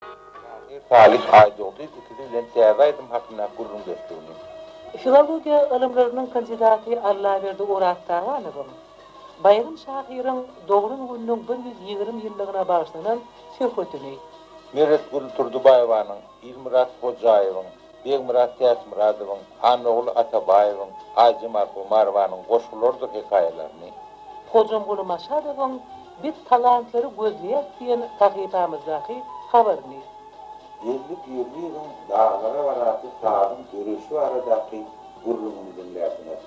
Şahyr Salyh Aýdogdy ikizi bilen täze aýdym hakynda gürrüňdeşligini. Filologiýa ylymlarynyň kandidaty Allaberdi Oraztaganowyň Baýram şahyryň doglan gününiň bir ýüz ýigrimi ýyllygyna bagyşlanan söhbetini. Meretgül Turdybaýewanyň Ilmyrat Hojaýewiň Begmyrat Täçmyradowyň, Hanogul Atabaýewiň, Aýjemal Omarowanyň goşgularydyr hekaýalaryny, Hojamguly Maşadowyň Biz talantlary gözleýäris diýen sahypamyzdaky habaryny. Geldi Pirliýewiň Daglara barasy sazyň döreýşi baradaky gürrüňini diňlärsiňiz.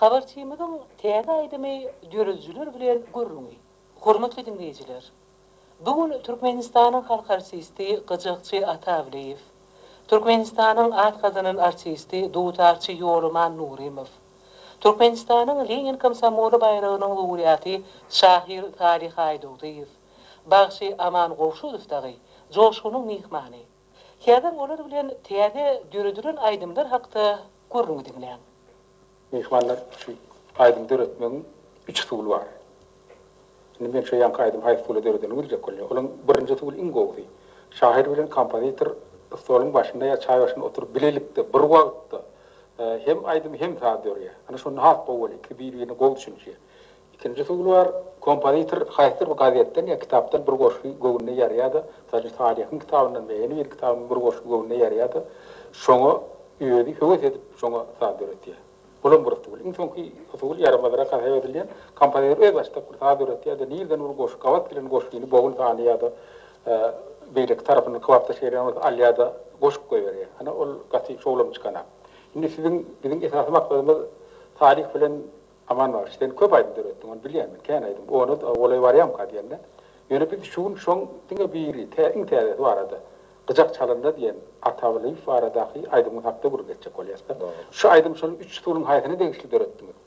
Habarçymyzyň täze aýdymy döredijiler bilen gürrüňi. Hormatly diňleýjiler! Bu gün Türkmenistanyň halk artisti Gyjakçy Atawlyýew, Türkmenistanyň at gazanan artisti dutarçy Ýolaman Nurymow, Türkmenistanyň Lenin komsomoly baýragynyň lowreaty şahyr Salyh Aýdogdyýew, bagşy Aman Gowşudow dagy joşgunyň myhmany. Häzir olar bilen täze döredilen aýdymlar hakda gürrüňi diňläň. Myhmanlar üçin aýdym döretmegiň üç usuly bar. Indi men şu ýanky aýdymy haýsy usulda döredenimi biljek bolýan. Olaň birinji usuly iň gowusy. Şahyr bilen kompozitor stoluň başynda ýa çaý başynda oturyp bilelikde bir wagtda hem aýdym hem saz dörýär. Ana şonda has gowy bolýar. Ikisi bir-birine gowy düşünişýär. Ikinji usuly bar, kompozitor haýsydyr bir gazetden ýa kitapdan bir goşgy göwnüne ýarýar-da, mysal üçin, Salyhyň kitabyndan ýa ýene bir kitapdan bir goşgy göwnüne ýarýar-da, şoňa özi höwes edip, şoňa saz döretýär. Bulam bir usul. Iň soňky usul, ýaramazrak hasap edilýän, kompozitor öz başdak bir saz döretýär-de, nireden bir goşgy gabat gelen goşgyny bogun sany ýa-da beýleki tarapyndan kybapdaş gelýän bolsa alýar-da, goşup goýberýär. Ana, ol gaty şowlam çykanak. Indi siziň, biziň esasy maksadymyz Salyh bilen. Aman bagşy, sen köp aýdym döretdiň, ony bilýän men, kän aýdym. Ona golaý barýamyka diýende, ýöne biz şu gün şoň diňe biri, tä iň täzesi barada, Gyjak çalanda diýen Ata Wlyýew baradaky aýdymyň hakda gürrüň etjek bolýas-da. Şu aýdym şol üç usulyň haýsyna degişli döretdiňiz?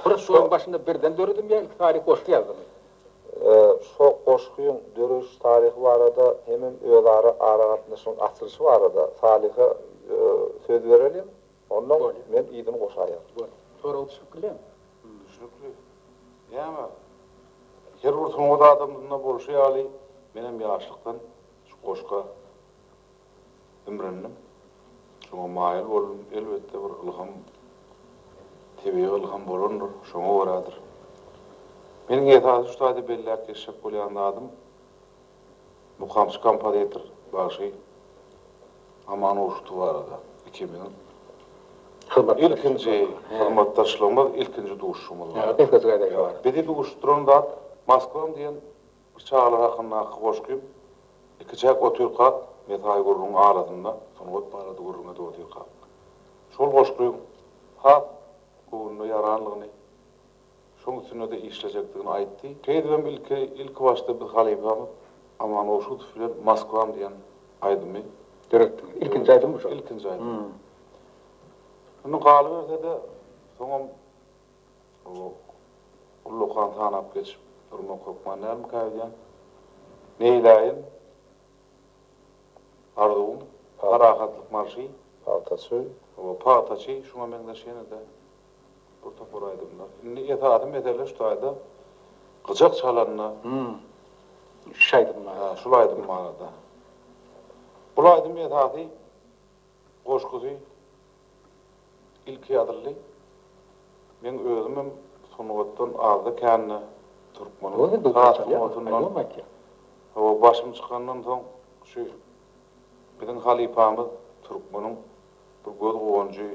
Bir şolaryň başynda birden döredimmi ýa ilki taryhy goşgy ýazdymy? Şo goşgyň dörediş taryhy barada hemem özara aragatnaşygyň açylyşy barada Salyha söz bereliň. Onnoň men yzyny goşaýan. Gör, sorag düşüp bilen. Düşnükli. Näme? Her bir sungat adamsynda bolşy ýaly, menem ýaşlykdan şu goşga imrindim. Şoňa maýyl boldum. Elbetde, bir ylham, tebigy ylham bolandyr, şoňa görädir. Meniň esasy şu taýda belläp geçjek bolýan zadym, Mukamçy kompozitor bagşy Aman Uruşdi barada ikimiziň ilkinji hyzmatdaşlygymyz, ilkinji duşuşygymyz bar. Bizi duşuşdyran zat Moskwam diýen bir çagalar hakyndaky goşgym. Ikiçäk otyrkak, mesaý gürrüň arasynda sungat barada gürrüň edip otyrkak, şol goşgyň has göwnüne ýaranlygyny Şoň üstünde-de işlejekdigini aýtdy. Şeýdibem ilki, ilkibaşda biz halypamyz Aman Goşutow bilen Moskwam diýen aýdymy. Döretdiňiz. Ilkinji aýdymmy şol? Ilkinji aýdym. Indi galyberse-de, soňam bu ullakan sanap geçip durmak hökman dälmikä öýdýän. Meýläýin, Arzuwym, Parahatlyk marşy. Pagtaçy. Pagtaçy şuňa meňzeş ýene-de. Bir topar aýdymlar. Indi esasy mesele şu taýda gyjak çalanda şu aýdym bar. Hä, şul aýdym barada. Bul aýdym esasy goşgusy ilki ýazyldy. Meň özümem sungatdan azda-kände türkmeniň saz sungatyndan hawa başym çykandan soň şu biziň halypamyz türkmeniň Bu göz guwanjy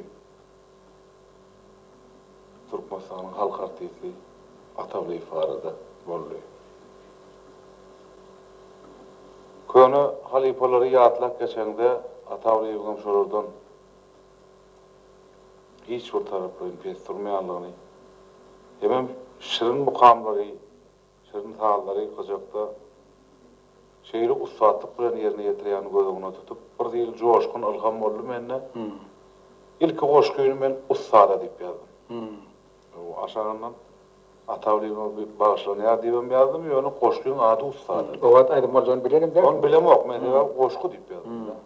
Türkmenistanyň halk artisti Atawlyýew barada boldy. Köne halypalary ýatlap geçeňde Atawlyýewiň hem şolardan hiç bir taraplaýyn pes durmaýanlygyny hemem şirin mukamlary, Şirin sazlary gyjakda şeýle ussatlyk bilen ýerine ýetirýäni göz öňüne tutup, bir zil joşgun, ylham boldy mende. Ilki goşgyny men ussada diýip ýazdym. Aşagyndan Ata Wlymowa bagyşlanýar diýibem ýazdym, ýöne goşgyň ady Ussada. O wagt aýdym boljagyny bilenem däldim. Ony bilemok, men sebäbi goşgy diýip ýazdym-da.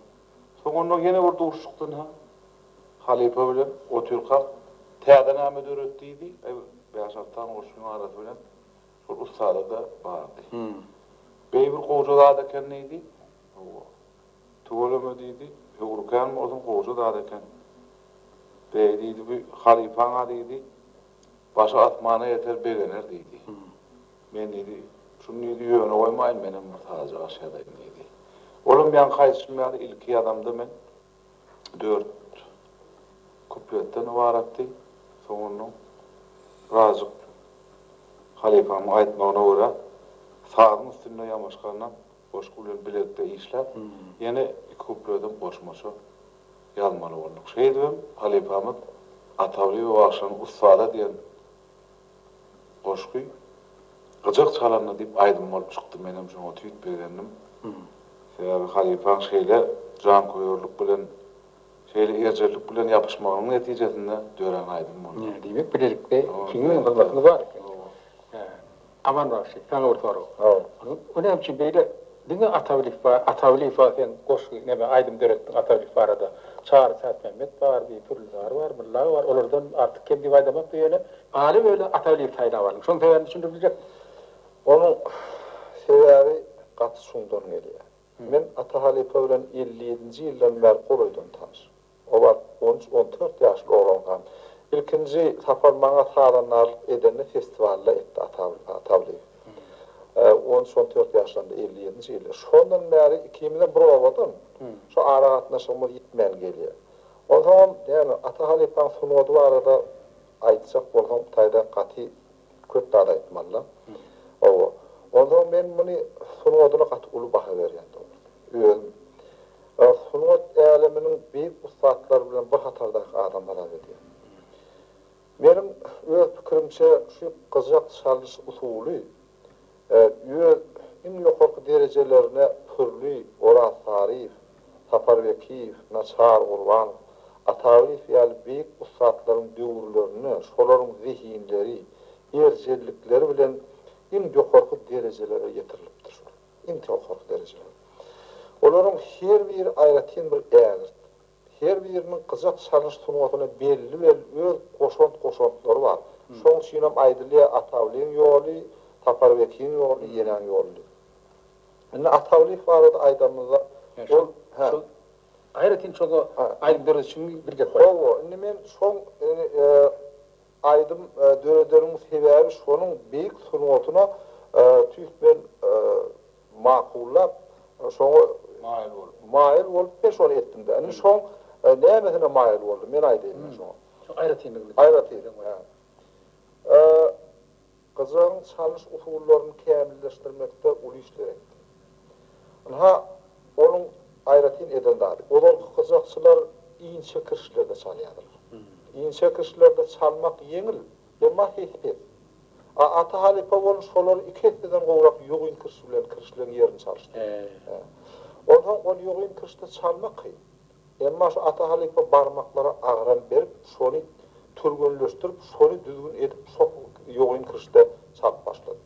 Soňunda ýene bir duşuşykdan-ha halypa bilen otyrkak täze name döret diýdi, eý, bäş-alty sany goşgyň arasy bilen şol ussada-da bardy. Beý bir gowja zat eken diýdi. Hawa. Tüweleme diýdi, höwrükäň bolsun, gowja zat eken. Beý diýdi, bu halypaň-a diýdi, başy asmana ýeter, begener diýdi. Men diýdi, Şuny diýdi, ýöne goýmaýyn, menem bir sagaja gaş ýazaýyn diýdi. Olam ýaňky aýdyşym ýaly, ilki ýazamda men dört kupletden ybaratdy. Soňundan birazjyk halypamyň aýtmagyna görä, sazyň üstünde ýamaşgandan goşgy bilen bilelikde işläp, ýene iki kupletem goşmaça ýazmaly bolduk. Şeýdibem halypamyz Atagulyýew bagşynyň Ussada diýen goşgy Gyjak çalanda diýip aýdym bolup çykdy. Menem şoňa tüýt begendim. Sebäbi halypaň şeýle janköýerlik bilen, şeýle erjellik bilen ýapyşmagynyň netijesinde dörän aýdym boldy. Diýmek bilelikde ikiňiziň hyzmatyňyz bar eken. Aman bagşy saňa bir sorag. O näme üçin beýle Diňe Atawlyf bar Atawlyfa sen goşgy neme aýdym döretdiň Atawlyf barada Çary Täçmämmet bar bir Pürlüzar bar Mylla bar olardan artyk kem diýip aýdamakda ýöne Aly Weli Atawlyf saýlap aldyň şoň sebäbini düşündirip biljekmi. Onuň sebäbi gaty çuňdan gelýär. Men Atahalypa bilen elli ýedinji ýyldan bäri golaýdan tanyş. O wagt on üç, on dört ýaşly oglankam. Ilkinji sapar maňa sazandarlyk edeni festiwalda etdi Ataguly Atagulyýew. On üç, on dört ýaşlarymda, elli ýedinji ýylda. Şondan bäri ikimizem bir obadan. Şu aragatnaşygymyz ýitmän gelýär. Onsoňam, ýagny Ata halypaň sungady barada aýtjak bolsaň, taýdan gaty köp zat aýtmaly-la. Hawa. Onsoňam men muny sungadyna gaty uly baha berýän dogrusu. Ön. Ol sungat äleminiň beýik ussatlary bilen bir hatardaky adam hasap edýär. Meniň öz pikirimçe şu gyjak çalyş usuly öz iň ýokarky derejelerine Pürli, Orazsaryýew, Sapar Bekiýew, Naçar Gurbanow, Ataglyýew ýaly beýik ussatlaryň döwürlerinde şolaryň zehinleri, erjellikleri bilen iň ýokarky derejelere ýetirilipdir. Şol. iň towkarky derejeler. Olaryň her biri aýratyn bir ägirt. Her biriniň gyjak çalyş sungatyna belli-belli öz goşant-goşantlary bar. Şoň üçinem aýdylýar, Atawlyň ýoly, Saparbekiň ýoly, Ýeňňäň ýoly diýip. Indi Atawlyk barada aýdanymyzda, ol, hä. Şol aýratyn çoga aýdym döredişiň bir gep bar. Hawa, indi men şoň, indi, Aýdym döredeniň sebäbi şonuň beýik sungatyna tüýs bilen makullap, şoňa maýyl bolup men şony etdim-de. Indi şoň nämesine maýyl boldum, men aýdaýyn men şoňa. Şoň aýratynlygyny. Aýratyn. Gyjagyň çalyş usullaryny kämilleşdirmekde uly işler etdi. Ynha, onuň aýratyn eden zady, ozalky gyjakçylar inçe kirişlerde çalýardylar. Inçe kirişlerde çalmak ýeňil, emma sesi pes. A Ata halypa bolun şolary iki esseden gowrak ýogyn kiriş bilen kirişleň ýerini çalyşdy. Onsoň ol ýogyn kirişde çalmak kyn. Emma şu Ata halypa barmaklara agram berip, şony türgenleşdirip, şony düzgün edip şok ýogyn kirişde çap başlady.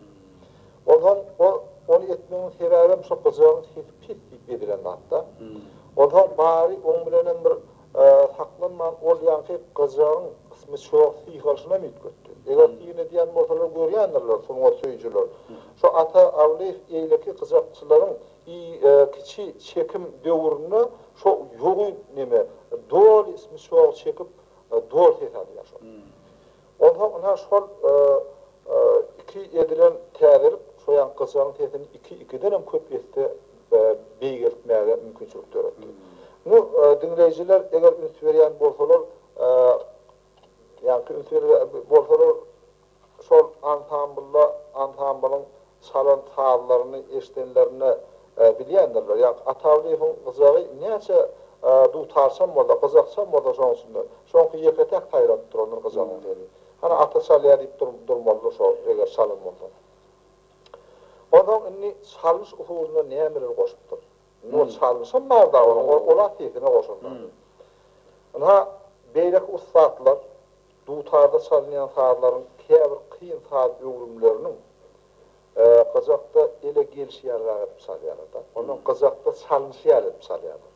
Onsoň o ony etmeginiň sebäbem şo gyjagyň sesi pes diýip edilen zatda. Onsoň bary oň bilenem bir saklanman ol ýaňky gyjagyň smyçok syýhalşynam üýtgetdi. Eger syn edýän bolsalar görýändirler sungat söýüjiler. Şo Ata Awlyýew eýleki gyjakçylaryň I kiçi çekim döwründe şo ýogy neme doly smyşogy çekip doly ses alýar şo. Onsoň ynha şol iki edilen täzelik şoýan gyjagyň sesini iki ikidenem köp esse beýgeltmäge mümkinçilik döretdi. Indi diňleýjiler eger üns berýän bolsalar Ýa kim söýer bolsalar şol ansamblla ansamblyň çalan sazlaryny eşidenlerinde bilýändirler. Ýa Atawlyýewiň gyjagy näçe dutarçam bolsa, gyjakçam bolsa şoň içinde. Şoňky ýeke-täk saýradyp durandyr gyjagyň sesi. Hany ata çalýar diýip durmalydyr şo eger çalan bolsa. Onsoň indi çalyş usulynda nämeler goşupdyr. Ol çalyşan barda onuň ol-a sesine goşulmady. Ynha, beýleki ussatlar dutarda çalynýan sazlaryň käbir kyn saz öwrümleriniň gyjakda ele gelşi ýalyrak edip çalýarlar-da. Ondan gyjakda çalnyşy ýaly edip çalýarlar.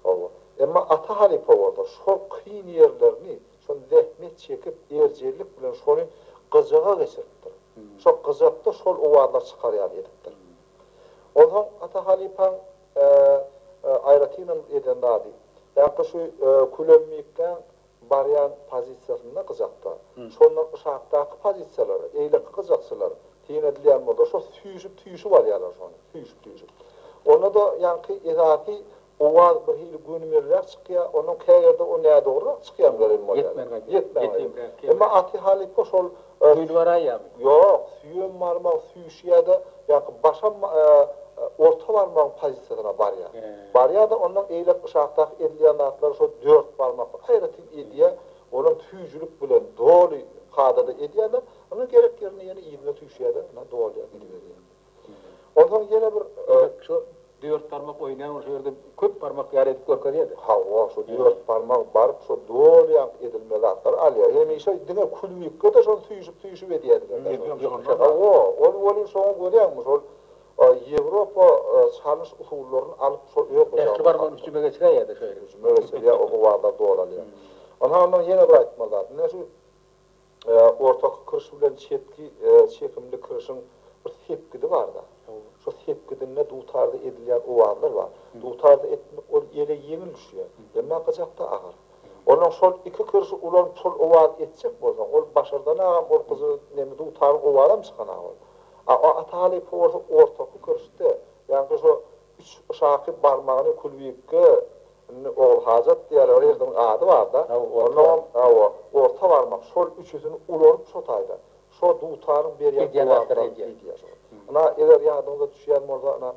Hawa. Emma Ata halypa bolsa şol kyn ýerlerini, şol zähmet çekip, erjellik bilen şony gyjaga geçiripdir. Şo gyjakda şol owazlar çykar ýaly edipdir. Onsoň Ata halypaň aýratynam eden zady, häkde şu Külemmiklän barýan pozisiýasynda gyjakda, şondan yşakdaky pozisiýalara, eýleki gyjakçylar syn edilýän bolsa, şo süýşüp-süýşüp alýarlar şony, süýşüp-süýşüp. Onda-da ýaňky esasy Owaz bir hili gönümelräk çykýa, onuň käýerde o nädogrurak çykýam gelen bolýar. Ýetmän gaýdýar. Emma aty halypa şol. Düýlbaraýamy? Ýok, süýem barmagy süýşýä-de, ýaňky başam orta barmagyň pozisiýasyna barýa. Barýa-da, ondan eýläk yşakdaky edilýän zatlary şo dört barmakly aýratyn edýä, olam süýjülik bilen doly kadada edýä-de, ynha gerek ýerinde ýene yzyna süýşýä-de, ynha dolýar, gidiberýär. Onsoň ýene bir Şu dört barmak oýnaýan şu ýerde köp barmak ýaly edip görkezýärdi. Hawa, şu dört barmak baryp şu dolýank edilme zatlar alýar. Hemişe diňe külbikde-de şony süýşüp-süýşüp edýärdiler. Hawa, ol welin şoňa görýäňmi şol Ýewropa çalyş usullaryny alyp şo öz gyjagyna. Ähli barmagyny hüjüme geçiräýýärdi şeýdip. Hüjüme geçirýär, o gywarlar dolalýar. Onsoň ondan ýene bir aýtmaly zat. Ine şu Ortaky kiriş bilen çetki çekimli kirişiň bir sepgidi bar-da. Şo sepgidinde dutarda edilýän owazlar bar. Dutarda etmek ol ele ýeňil düşýär, emma gyjakda agyr. Onnoň şol iki kirişi ulanyp şol owazy etjek bolsaň, ol başardanagam ol gyzy neme dutaryň owazam çykanag ol. A Ata halypa bolsa ortaky kirişde, ýagny şo üç şaky barmagyny külbikge Indi Ogulhajat diýýärler ol ýerdiň ady barda. Onnoň hawa orta barmak şol üçüsini ulalyp şo taýda. Şo dutanyň berýän gowazlar diýýär şo. Ina eger ýadyňyza düşýän bolsa ina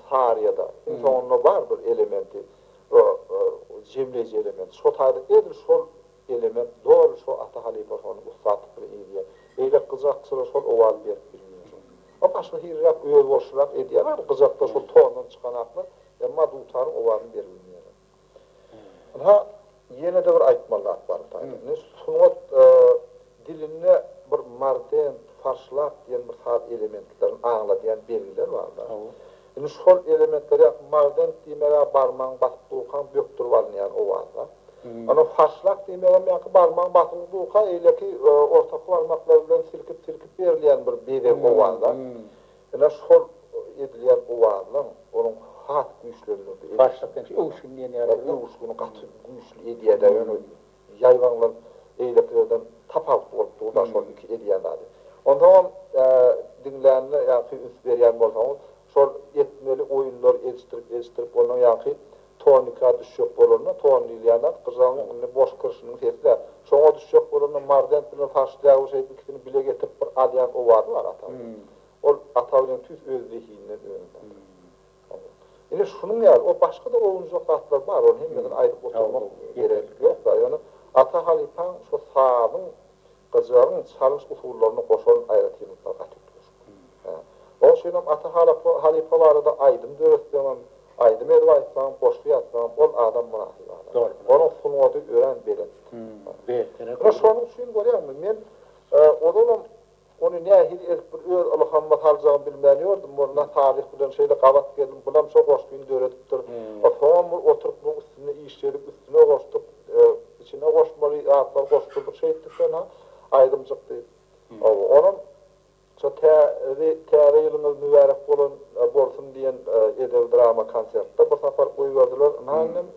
Saryýada iň soňunda bar bir elementi jemleýji element. Şo taýda edil şol Eleme doly şo ata halypa şony ussatlyk bilen eýdýär. Beýle gyjak çyra şol owaz berip bilmeýär şo. Ol başga hiliräk özboluşlyrak edýär bar gyjakda şol tondan çykanaklar emma dutaryň owazyny beribilmeýärler. Ynha ýenede bir aýtmaly zat bar bu taýda. Indi sungat dilinde bir mardent, farşlak diýen bir saz elementlerini aňladýan belgiler bar-da. Indi şu hol elementleri ýa magdent diýmeg-ä barmagyň basyp durkaň bökdürip alynýan owazda. Ondan haşlak diýmegem ýaňky barmagyň basyly durka eýleki ortaky barmaklar bilen silkip-silkip berilýän bir bezeg owazda. Ine şu hol edilýän owazynyň onuň has güýçlendirdi. Haşlak diýen şu öwüşgin diýen ýaly. Öwüşgini gaty güýçli edýär-dä ýöne Ýaýbaňlar beýlekilerden tapawutly bolup dur-da şol iki edýän zady. Onsoňam diňlänine ýa-ki üns berýän bolsaňyz, şol etmeli oýunlary edişdirip-edişdirip ondan ýa-ki tonika düşjek bolanda, ton diýilýän zat gyjagyň indi boş kirşiniň sesi-dä. Şoňa düşjek bolanda Marzent bilen Farşdýagu şeýdip ikisini bile getirip bir alýan owazy bar Atabeliň. Ol Atabeliň tüýs öz zehininiň öňünde. Ine, şunuň ýaly, o başga-da owunjak zatlar bar, ony hemmesini aýdyp oturmak gerek ýok-da. Ýöne Ata halypaň şo sazyň, gyjagyň çalyş usullaryna goşan aýratynlyklary gaty üýtgeşik. Hä. Oň üçin hem Ata halapa halypa barada aýdym döretseňem, aýdym edip aýtsaňam, goşgy ýazsaňam, ol adam mynasyp adam. Dogry, dogry. Onuň sungaty örän belent. Hä. Beýik, ýöne şonuň üçin görýäňmi, men ozalam Ony nähili edip bir öz ylhamyma saljagymy bilmän ýördüm, Molla Salyh bilen şeýle gabat geldim, bulam şo goşgyny döredipdir. Soňam bir oturyp muň üstünde işledik, üstüne goşduk, içine goşmaly zatlary goşdurdyk şeýtdi sona, aýdymjykdy. Hawa, onam şo tä ri Täze ýylyňyz mübärek bolan bolsun diýen edebi-drama konsertde bir sapar goýberdiler. Ynha, inim,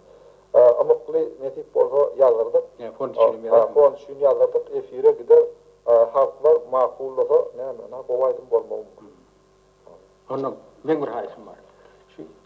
Ymykly nesip bolsa ýazdyrdyk. Näme fon üçin hem ýazarsyn. Fon üçin ýazdyrdyk. Efire gider. Halklar makullasa näme. Gowy aýdym bolmagy mumkin. Onda meň bir haýyşym bar. Şu